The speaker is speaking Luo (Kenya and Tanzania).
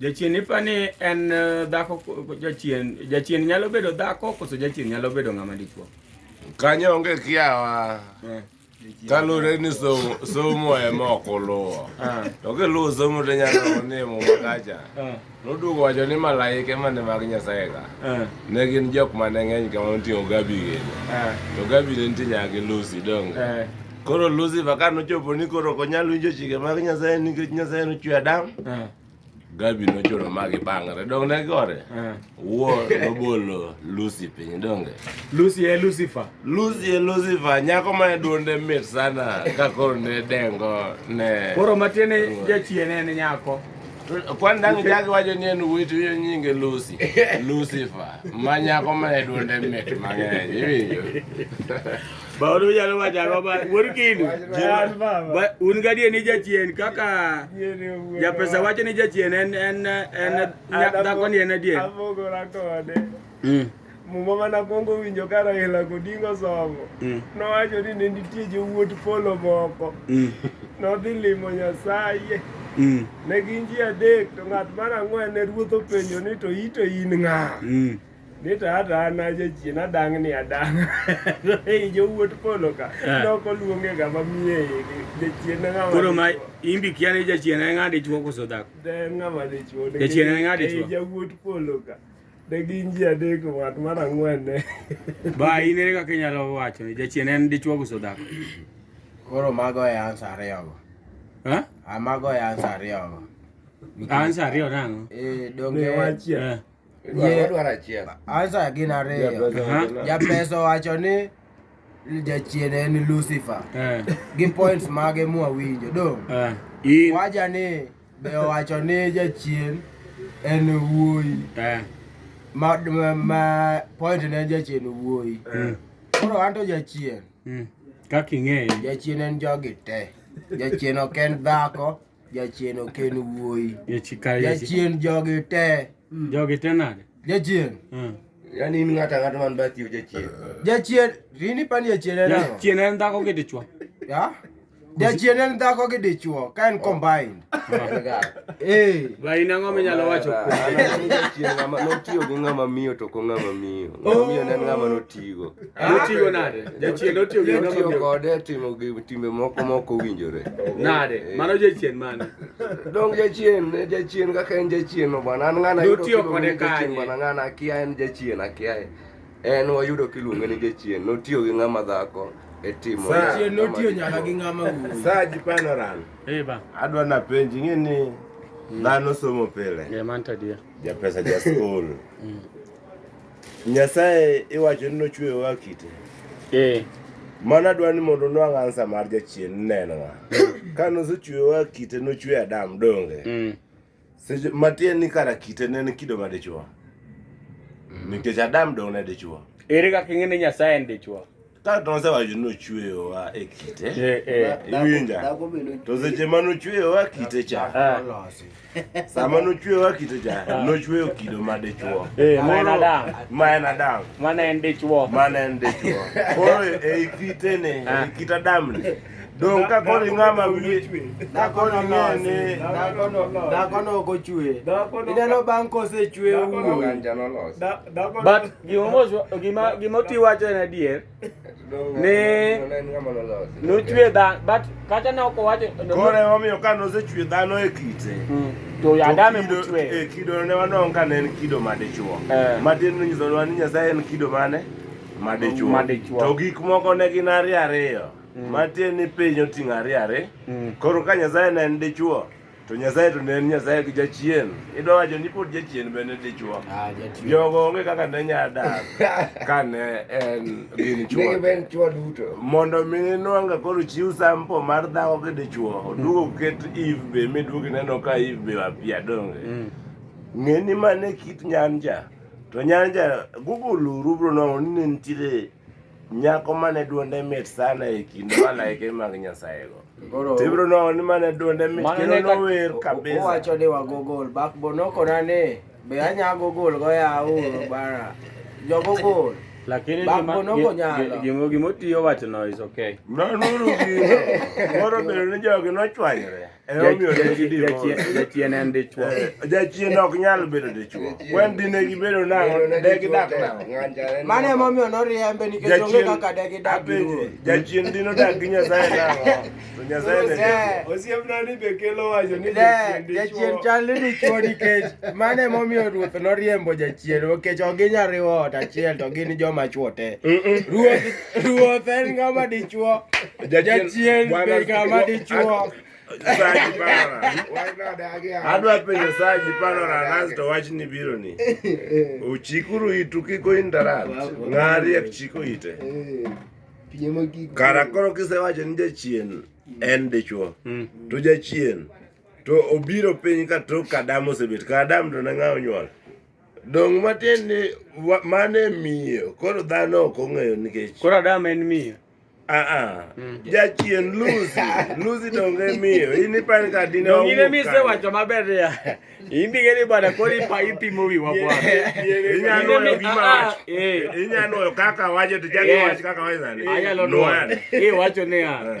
Jachien ipa ni en eh, dhako jachien jachien nyalo bedo dhako koso jachien nyalo bedo ng'ama dichuo. Kanyo onge kiawa. Eh. Kalure ni somo somo e moko luwo. Ah. To ke luwo somo to nyalo ni mo makacha. Ah. Nodugo wacho ni malaike mane mag Nyasaye ka. Ah. Ne gin jok mane ng'eny kama oting'o gabi gini. To gabi ne nitie nyaka gi Lucy donge. Eh. Koro Lucy baka nochopo ni koro ok onyal winjo chike mag Nyasaye nikech Nyasaye nochwe Adam. Gabi nochoro magi bangre dong ne gore eh. wo nobolo Lucy piny donge Lucy e Lucifer Lucy e Lucifer nyako ma duonde mit sana ka koro ne dengo ne koro matiene jachien en nyako kwan dang jagi wacho ni en wuoyi to winjo nyinge Lucy Lucifer ma nyako ma duonde mit mang'eny iwinjo Bauru jalo wacho ang'o ba wuod kindu. Ba- Un gadier ni jachien kaka japesa wacho ni jachien en en en nya- dhako ni en adier. Abogora kode. Mm. Muma mana kwongo winjo ka Raila Odinga osomo. Mm. Nowacho ni ne nitie jowuot polo moko. Mm. Nodhi limo Nyasaye. Mm. Ne gin ji adek to ng'at mar ang'wen ne ruoth openjo ni to ito in ng'a? Mm. ni to hata an ajachien adang' ni adang' ei jowuot polo ka Eh. nok oluonge ga mamiye igi jachien en ng'ama Koro ma dichwo. imbi kia ni jachien en ng'a dichwo koso dhako. De en ng'ama dichwo nikech Jachien en ng'a ei dichwo? jawuot polo ka de gin ji adek ng'at mar ang'wen ne Ba in ere kaka inyalo wacho ni jachien en dichwo koso dhako. Koro mago e ansa ariyogo. Ha? Ah, Mago e ansa ariyogo. Ansa ariyo nang'o? Eh, donge Ne wachiel. Eh. ansa gin ariyo japeso wacho ni jachien en lucifer eh. gi points mage mwawinjo dong eh. waja ni be owacho ni jachien en wuoyi eh. ma, ma, ma point ne jachien wuoyi mm. koro mm. anto jachien mm. kaka ing'eyo jachien en jogi te jachien ok en dhako Jachien ok en wuoyi. Jachien jogi te. Hmm. Jogi te nade? Jachien. Hmm. Yaani in ng'ata ng'ata man bathi o jachien. Jachien, rini pani jachien en ang'o? Jachien en dhako gi dichwo. Ya? Jachien en dhako gi dichwo, ka en combined. Eh. Ba in ang'o minyalo wacho kuom jachien ng'ama notiyo gi ng'ama miyo to ko ng'ama miyo. Ng'ama miyo ne ng'ama notigo. Otiyo nade? Jachien otiyo gi namba miyo kode timo gi timbe moko moko winjore. Nade? Eh, eh. Mano jachien mane? Dong jachien, ne jachien kaka en jachien no bwana. An ng'ana yudo tiyo kode kanye? Bwana ng'ana akia en jachien akia. En wayudo kiluonge ni jachien. Notiyo gi ng'ama dhako e timo. Jachien notiyo nyaka gi ng'ama wuoyi. Saa jipano ran. Eh ba. Adwa na penji ng'e ni mm. dhano somo pile. Yeah, man to dear. Ja pesa ja school. Mm. Nyasaye iwacho ni nochweyo wa kite. Eh. Mana dwa ni mondo nwang' ansa mar jachien neno wa. Ka nosechweyo wa kite nochweyo Adam donge. Mm. Seche matiende ni kara kite ne en kido ma dichwo. Mm. Nikech Adam dong' ne dichwo. Ere kaka ing'e ni Nyasaye en dichwo? ka tonse wacho ni ochweyowa e kite eh, eh. iwinja to seche ma nochweyowa kite cha ah. sama nochweyowa kite cha ah. nochweyo kido ma dichwo eh, ma en adam ma en adam mana en dichwo mana en dichwo koro ei kitene ah. ei kit adamni dong ka koni ng'ama wiye dakoni ng'ene dakono ok ochwe ineno bang' kosechwe wuoyi gima gima oti wacho en adier ni nochwe dhano but kata ne ok owacho koro emomiyo ka nosechwe dhano e kite hmm. to yadame mochwe e kido ne wanong ka ne en kido madichuo eh. matin nonyisonwa ni nyasaye en kido mane madichuo to gik moko ne gin ariyo ariyo Mm. matie ni piny oting'o ariyo ariyo mm. koro ka nyasaye ne en dichuo to Nyasaye to ne en Nyasaye gi jachien. Idwa wacho ni pod jachien bende dichwo. Ah, jachien. Jogo onge kaka ne nya dak kane en gin chwo. Ne ben chwo duto. Mondo mi inwanga koro chiw sample mar dhako gi dichwo. Odugo mm. ket Eve be miduogi neno ka Eve be wapia donge. Mm. Ng'e ni mane kit nyanja. To nyanja Google rubro no ni nitiere nyako mane duonde mit sana e kind malaike mag nyasayego tibro no ni mane duonde mit kendo nower kabisa owacho ni wagogol bakbo nokona ni be anya gogol go yawo bara jogogol lakini gimo gimo tiyo wachno is okay nonuru gino moro bedo ni jogi nochwanyore Emomiyo ne gidivorce. Jachien jachien en dichwo. Eh, Jachien ok nyal bedo dichwo. Wen dine gibedo nang'o, ne gidak nang'o. Mano emomiyo noriembe nikech onge kaka de gidak gi apenji, ruoth. jachien dine odak gi Nyasaye nang'o? To Nyasaye ne dichwo. Osiepna ni be kelo wacho ni De, jachien chal ni dichwo nikech mano emomiyo ruoth noriembo jachien nikech ok ginyal riwo ot achiel to gin joma chwo te. Ruoth Ruoth en ng'ama dichuo. Jachien be ng'ama dichuo. Saji para. Adwa penjo Saji para na Nas to wach ni biro ni. Uchikuru itu kiko indarat. Ng'ari ya chiko ite. Eh, Kara koro kisewacho ni jachien en dichuo. Hmm. To jachien to obiro piny ka tok Adam osebet. Ka Adam to ne ng'a onyuol. Dong' matiend ni wa- mano e miyo, koro dhano ok ong'eyo nikech Koro Adam en miyo. aa Mm. jachien Lucy Lucy donge miyo in ipani ka dine Dong' in ema isewacho maber ya. In be ng'eni bwana koro ipa ipimo wiwa bwana. Inyalo In nwoyo ema- gima ah, ah, wacho. eh. Inyalo nwoyo kaka wacho to chak Eh. iwach kaka wacho sani. Anyalo Nwoyo. nuoyo. Iwacho niya, Eh.